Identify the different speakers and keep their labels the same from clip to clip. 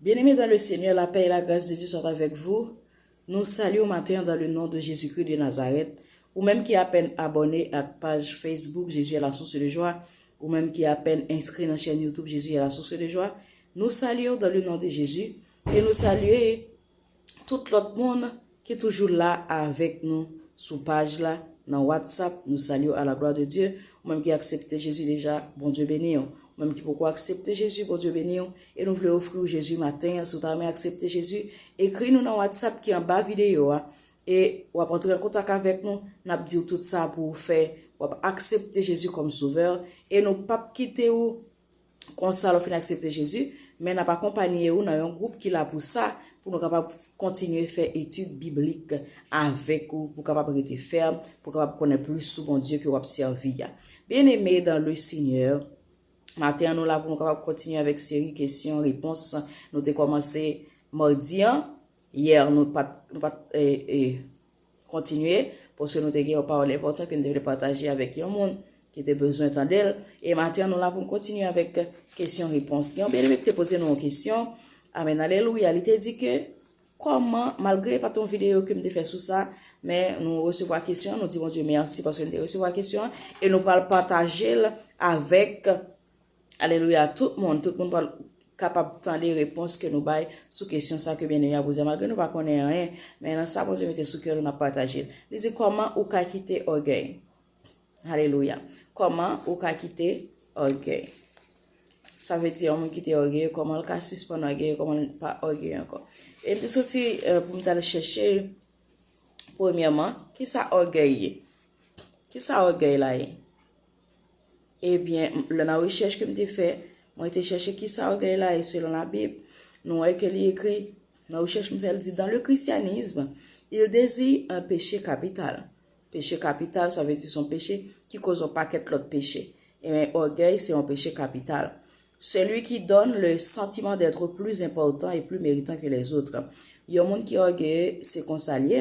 Speaker 1: Bien-aimé dans le Seigneur, la paix et la grâce de Dieu soient avec vous. Nou salye w maten an dan le non de Jezikri de Nazarèt. Ou menm ki apèn abòne ak paj Facebook Jésus est la source de joie, ou menm ki apèn enskri nan chèn YouTube Jésus est la source de joie, nou salye w dan le non de Jezi e nou salye tout lòt moun ki toujou la avèk nou sou paj la nan whatsapp nou salyew a la glwa de Dye ou menm ki aksepte Jezi deja Bondye beniw ou menm ki poko aksepte Jezi Bondye beniw e nou vle ofriw Jezi maten an si ou ta renmen aksepte Jezi ekri nou nan whatsapp ki anba videyo a e wap antre an kontak avèk nou nap diw tout sa pou ou fè wap aksepte Jezi kòm sovè e nou pap kite ou. Konsa, lè w fin aksepte Jezi, men n ap akonpanye ou nan yon gwoup ki la pou sa, pou nou kapab kontinye fè etid biblik avèk ou, pou w kapab rete fèm, pou w kapab konnen plis sou Bondye ke w ap sèvi a. Byeneme dan le Senyè, maten an nou la pou nou kapab kontinye avèk seri kesyon repons nou te kòmanse madi an. Yè nou pa t. Kontinye, paske nou te gen yon pawòl enpòtan ke nou te vle pataje avèk yon moun ki te bezwen tande l. E maten an nou la pou nou kontinye avèk kesyon repons. Gen yon byeneme ki te poze nou yon kesyon, amèn alelouya, li te di ke kòman, malgre pa t yon videyo ke m te fè sou sa, men nou resevwa kesyon an, nou di Bondye mèsi paske nou te resevwa kesyon an, e nou pral pataje l avèk Alelouya tout moun, tout moun pral kapab tande repons ke nou bay sou kesyon sa ke Byeneme a poze a. Malgre nou pa konnen anyen, men nan sa Bondye mete sou kè nou nap pataje l. Li di kòman ou ka kite ògèy. Alelouya. Kòman ou ka kite ògèy. Sa vle di yon moun ki te ògeye, kòman l ka sispann ògeye, kòman l pa ògeye ankò. E m te soti pou m tal chèche premyèman, kisa ògèy ye? Kisa ògèy la ye? Ebyen, lè nan rechèch ke m te fè, mwen te chèche ki sa ògèy la ye selon labib, nou wè ke li ekri, nan rechèch m fè li di, dans le christianisme, il deziye un peche kapital. Peche kapital sa vle di son peche ki koz yon pakèt lòt peche. Ebyen, ògèy se yon peche kapital. Celui qui donne le sentiment d'être plus important et plus méritant que les autres. Yon moun ki ògeye, se konsa l ye.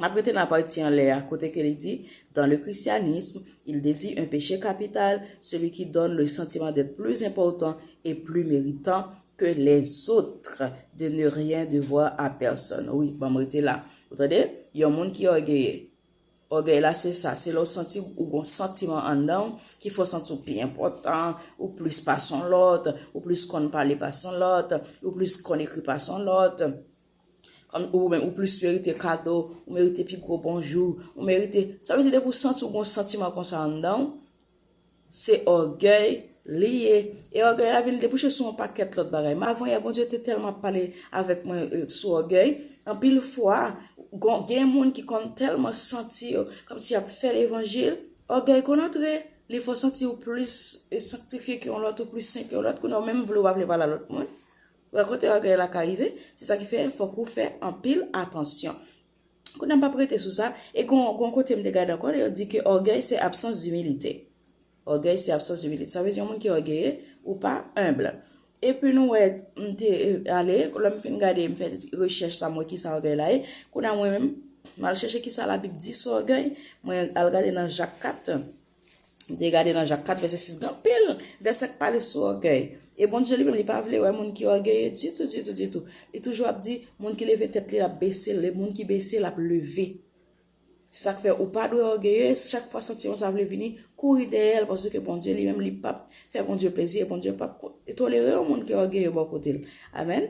Speaker 1: M ap rete nan pati anlè a, kote ke li di, Dans le christianisme, il dezigne un péché capital, celui qui donne le sentiment d'être plus important et plus méritant que les autres de ne rien devoir à personne. Wi, ban m rete la. Ou tande? Yon moun ki ògeye. Ògèy la se sa, se lè w santi ou gon santiman anndan w ki fè w santi w pi enpòtan, ou plis pase yon lòt, ou plis konn pale pase yon lòt, ou plis konn ekri pase yon lòt. Kòm ou menm ou plis merite kado, ou merite pi gwo bonjou, ou merite, sa vle di depi ou santi ou gon santiman konsa anndan ou, se ògèy li ye, e ògèy la vin debouche sou yon pakèt lòt bagay. Men avan yè Bondye te tèlman pale avèk mwen sou ògèy, anpil fwa gen moun ki konn tèlman santi yo kòmsi y ap fè levanjil, ògèy konn antre, li fè w santi ou plis sanktifye ke yon lòt, ou plis sen ke yon lòt, kounye a ou menm vle ou pa vle pale a lòt moun. Rakonte bagay la ka rive, se sa ki fè fòk ou fè anpil atansyon. Kounye a m pa p rete sou sa, e gen yon kote m te gade ankò, yo di ke ògèy se absans dimilite. Ògèy se absans dimilite. Sa vle di yon moun ki ògeye, ou pa enb. Epi nou wè, m te ale, lè m fin gade, m fè rechèch sa m wè ki sa ògèy la ye. Kounye a mwen menm, m al chèche ki sa labib di sou ògèy, mwen al gade nan Jak 4. Nou te gade nan Jak 4 vèsè 6 gen anpil vèsè k pale sou ògèy. E Bondye li menm li pa vle wè moun ki ògeye ditou, ditou, ditou. Li toujou ap di moun ki leve tèt li l ap bese l e moun ki bese l ap leve. Se sa k fè ou pa dwe ògeye, chak fwa santiman sa vle vini, kouri dèyè l paske Bondye li menm li pap fè Bondye plezi e Bondye pap tolere yon moun ki ògeye bò kote l. Amèn.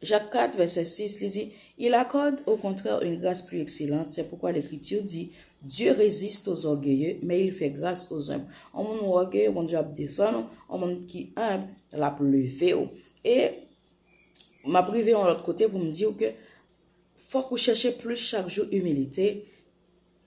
Speaker 1: Jak 4, vèsè 6, li di, Il accorde au contraire une grâce plus excellente, c'est pourquoi l'Ecriture dit, Dieu résiste aux orgueilleux, mais il fait grâce aux humbles. On moun ou ògeye, Bondye ap desann ou, on moun ki humble, l ap leve ou. E, m ap rive yon lòt kote pou m di ou ke fòk ou chèche plis chak jou imilite,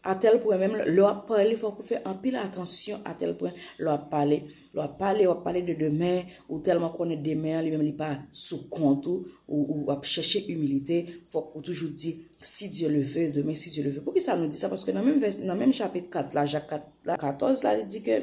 Speaker 1: A tèl pwen menm lè w ap pale fòk ou fè anpil atansyon a tèl pwen lè w ap pale. Lè w ap pale, w ap pale de demen, ou tèlman konnen demen an li menm li pa sou kont ou, ou ap chèche imilite, fòk ou toujou di si Dye le ve, demen si Dye le ve. Poukisa nou di sa? Paske nan menm chapit 4 la, Jak 4 la, 14 la li di ke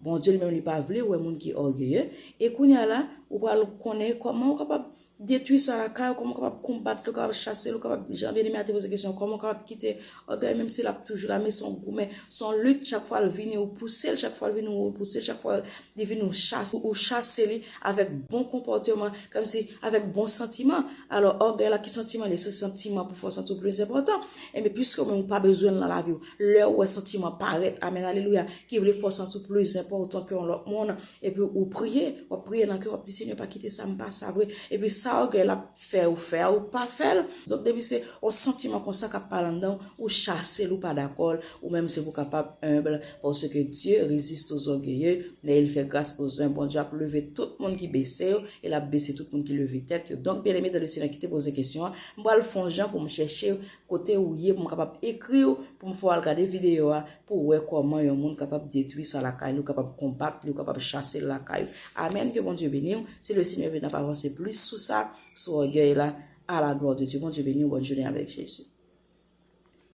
Speaker 1: Bondye li menm li pa vle wè moun ki ògeye, e kounye a la, ou pral konnen kòman ou kapab detwi sa lakay ou, kòman ou kapab konbat li, ou kapab chase li, ou kapab, jan Byeneme a te poze kesyon, kòman ou kapab kite ògèy menm si l ap toujou la, men se yon goumen, se yon lit, chak fwa l vini ou pouse l, chak fwa l vini ou repouse l, chak fwa li vini ou chase, ou chase li avèk bon konpòteman, kòmsi avèk bon santiman, alò ògèy la ki santiman li ye? Se santiman pou fè w santi w plis enpòtan, enben piske ou menm ou pa bezwen l nan lavi w, Lèw wè santiman parèt, amen alelouya, ki vle fè w santi w plis enpòtan ke yon lòt moun, epi ou priye, wap priye nan kèw wap di Senyè pa kite sam pa sa vre, epi sa ògèy ap fèw fè a ou pa fèl, donk depi se yon santiman konsa kap pale anndan w, ou chasel ou pa dakò l, ou menm se pou kapab humble, paske Dieu resiste aux orgueilleux, men il fait grace aux humbles, Bondye ap leve tout moun ki bese yo, e lap bese tout moun ki leve tèt yo, donk byeneme dan le Senyè kite poze kesyon an, m pral fon jan pou m chèche Kote ou ye pou m kapab ekri w pou m fè w al gade videyo a pou w wè kòman yon moun kapab detwi sa lakay li ou kapab konbat li ou kapab chase l lakay ou amen ke Bondye beni w si le Senyè vle n ap avanse plis sou sa sou ògèy la a la glwa de Dye Bondye beni w bòn jounen avèk Jezi.